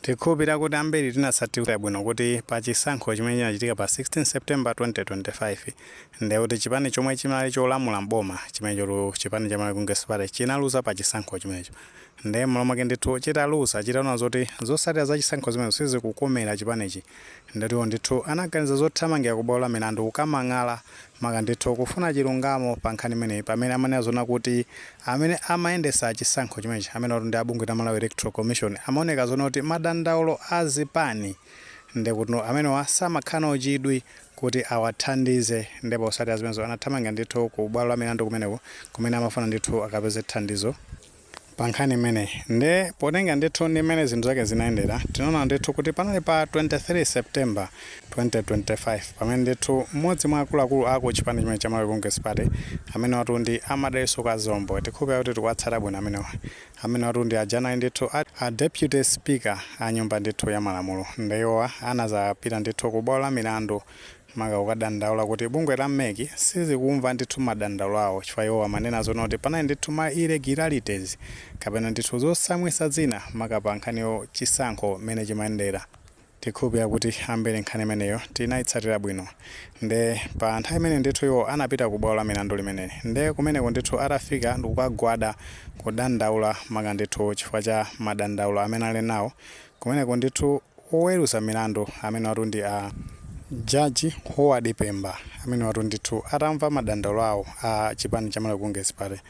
Tikhulupirira kuti ambiri tinatsatira bwino kuti pa chisankho chimene chinachitika pa 16 September 2025 ndiye kuti chipani chomwe chinali cholamula m'boma chimenechotu chipani cha Malawi Congress Party chinaluza pa chisankho chimenecho ndiye m'malo mwake ndithu chitaluza chitaona zoti zotsatira za chisankho zimenezo sizikukomera chipanichi Ndiye iwo ndithu anaganiza zothamangira ku bwalo la milandu kukamang'ala maka ndithu kufuna chilungamo pa nkhani imeneyi pamene amanena zoona kuti amene amayendesa chisankho chimenechi amenewatu ndi a bungwe la Malawi Electoral Commission amaoneka zoona kuti madandaulo a zipani ndekuti amenewa samakhala nawo chidwi kuti awathandize nde posatira zimenezo anathamangira ndithu ku bwalo la milandu kumeneko kumene amafuna ndithu akapeze thandizo pa nkhani imeneyi nde potenga ndithu ndi mmene zinthu zake zinayendera tinaona ndithu kuti panali pa 23 September 2025 pamene ndithu mmodzi mwa akuluakulu a ku chipani chimenechi cha Malawi Congress Party amenewatu ndi a Madalitso Kazombo tikhulupirira kuti tikuwatsata bwino amenewa amenewatu ndi aja anali ndithu a, a deputy speaker a nyumba ndithu ya malamulo nde iwowa anazapita ndithu ku bwalo la milandu maka kukadandaula kuti bungwe la MEC sizikumva ndithu madandaulo awo chifukwa iwowo amanena zoona kuti panali ndithu ma irregularities kapena ndithu zotsamwitsa zina maka pa nkhani ya chisankho mmene chimayendera. Tikhulupilira kuti ambiri nkhani imeneyo tinayitsatira bwino nde pa nthawi imene ndithu iwo anapita ku bwalo la milandu limeneli nde kumeneko ndithu atafika ndikukagwada kudandaula maka ndithu chifukwa cha madandaulo amene anali nawo Kumeneko ndithu oweruza milandu amenewatu ndi a Judge Howard Pemba amenewatu ndithu atamva madandaulo awo a chipani cha Malawi Congress Party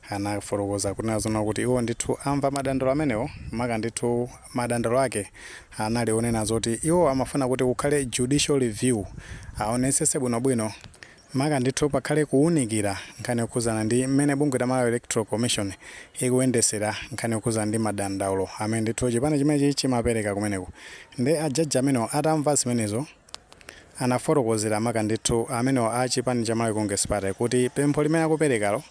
anafotokoza kunena zoona kuti iwo ndithu amva madandaulo amenewo maka ndithu madandaulo ake anali onena zoti iwo amafuna kuti kukhale judicial review aonetsetse bwinobwino Maka ndithu pakhale kuwunikira nkhani yokhudzana ndi mmene bungwe la Malawi Electoral Commission ikuyendesera nkhani yokhudzana ndi madandaulo amene ndithu chipani chimenechi chimapereka kumeneko. Nde a judge amenewo atamva zimenezo anafotokozera maka ndithu amenewo a chipani cha Malawi Congress Party kuti pempho limene akuperekalo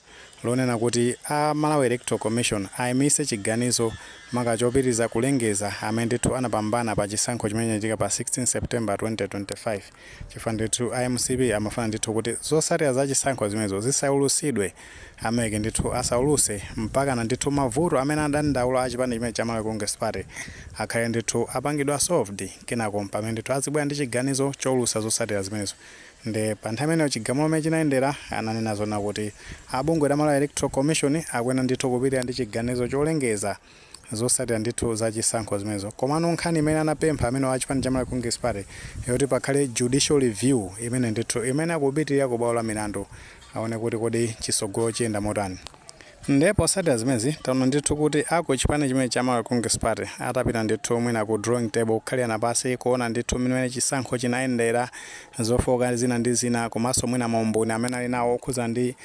lonena kuti a Malawi Electoral Commission ayimitse chiganizo maka chopitiriza kulengeza amene ndithu anapambana pa chisankho chimene chinachitika pa 16 September 2025. chifukwa ndithu a MCP amafuna ndithu kuti zosatira za chisankho zimenezo zisaulusidwe, a MEC ndithu asauluse mpakana ndithu mavuto amene adandaula a chipani chimenechi cha Malawi Congress Party akhale ndithu apangidwa solved kenako mpamene ndithu azibwera ndi chiganizo choulusa zosatira zimenezo nde pa nthawi imeneyo chigamulo mmene chinayendera ananena zoona kuti a bungwe la Malawi Electoral Commission akuyenera ndithu kupitirira ndi chiganizo cholengeza Zotsatira ndithu za chisankho zimenezo. Komano nkhani imene anapempha amenewo a chipani cha Malawi Congress Party yoti pakhale judicial review imene ndithu imayenera kupitirira ku bwalo la milandu aone kuti kodi chitsogolo chiyenda motani. Ndiye potsatira zimenezi taona ndithu kuti a ku chipani chimenechi cha Malawi Congress Party atapita ndithu mwina ku drawing table kukhalirana pansi kuona ndithu mmene chisankho chinayendera, zofooka zina ndi zina komanso mwina maumboni amene ali nawo okhudzana ndi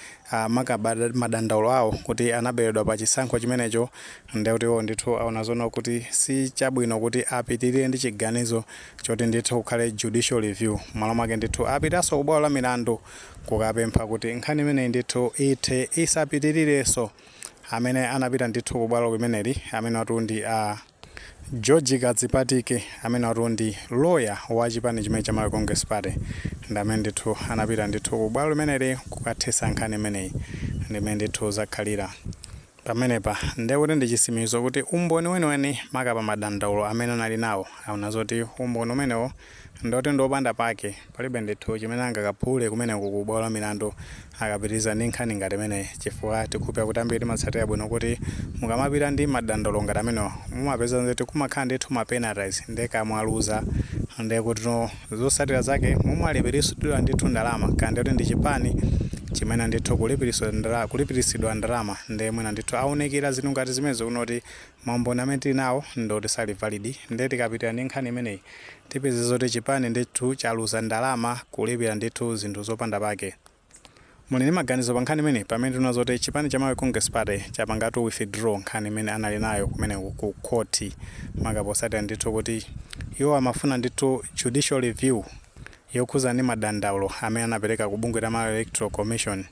maka madandaulo awo kuti anaberedwa pa chisankho chimenecho ndiye kuti iwo ndithu aona zoona kuti si chabwino kuti apitirire ndi chiganizo choti ndithu kukhale judicial review. M'malo mwake ndithu apitanso ku bwalo la milandu kukapempha kuti nkhani imeneyi ndithu ithe isapitirirenso. Amene anapita ndithu ku bwalo limeneli amenewatu ndi. George Kadzipatike amenewatu ndi lawyer wa chipani chimene cha Malawi Congress Party ndi amene ndithu anapita ndithu ku bwalo limeneli kukathetsa nkhani imeneyi. Ndi mmene ndithu zakhalira pamenepa. Ndiye kuti ndi chitsimikizo kuti umboni weniweni maka pa madandaulo amene anali nawo, aona zoti umboni umenewo Ndi woti ndi wopanda pake, palibe ndithu chimene angakaphule kumeneko ku bwalo la milandu akapitiriza ndi nkhani ngati imeneyi chifukwa tikhulupirira kuti ambiri timatsatira bwino kuti mukamapita ndi madandaulo ngati amenewa mumapeza zoti kumakhala ndithu ma penalties nde kaya mwaluza ndekuti zotsatira zake mumalipiritsidwa ndithu ndalama kaya ndikuti ndi chipani chimene ndithu kulipiritsidwa ndalama nde mwina ndithu aunikira zinthu ngati zimenezo kuona zoti maumboni amene tili nawo ndi oti sali valid nde tikapitirira ndi nkhani imeneyi tipeze zoti chipani ndithu chaluza ndalama kulipira ndithu zinthu zopanda pake. Muli ndi maganizo pa nkhani imeneyi pamene taona zoti chipani cha Malawi Congress Party chapangatu withdraw nkhani imene anali nayo kumeneko ku khothi maka potsatira ndithu kuti iwo amafuna ndithu judicial review yokhudza ndi madandaulo amene anapereka ku bungwe la Malawi Electoral Commission.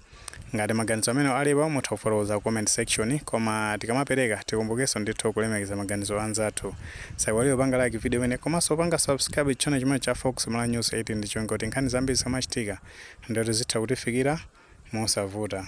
Ngati maganizo amenewo alipo mutha kufotokoza ku comment section, koma tikamapereka tikumbukenso ndithu kulemekeza maganizo a anzathu. Osaiwala kupanga like video imeneyi komanso kupanga subscribe channel chimene cha Fox Malawi News 8 ndi cholinga kuti nkhani zambiri zikamachitika ndiye kuti zitha kutifikira mosavuta.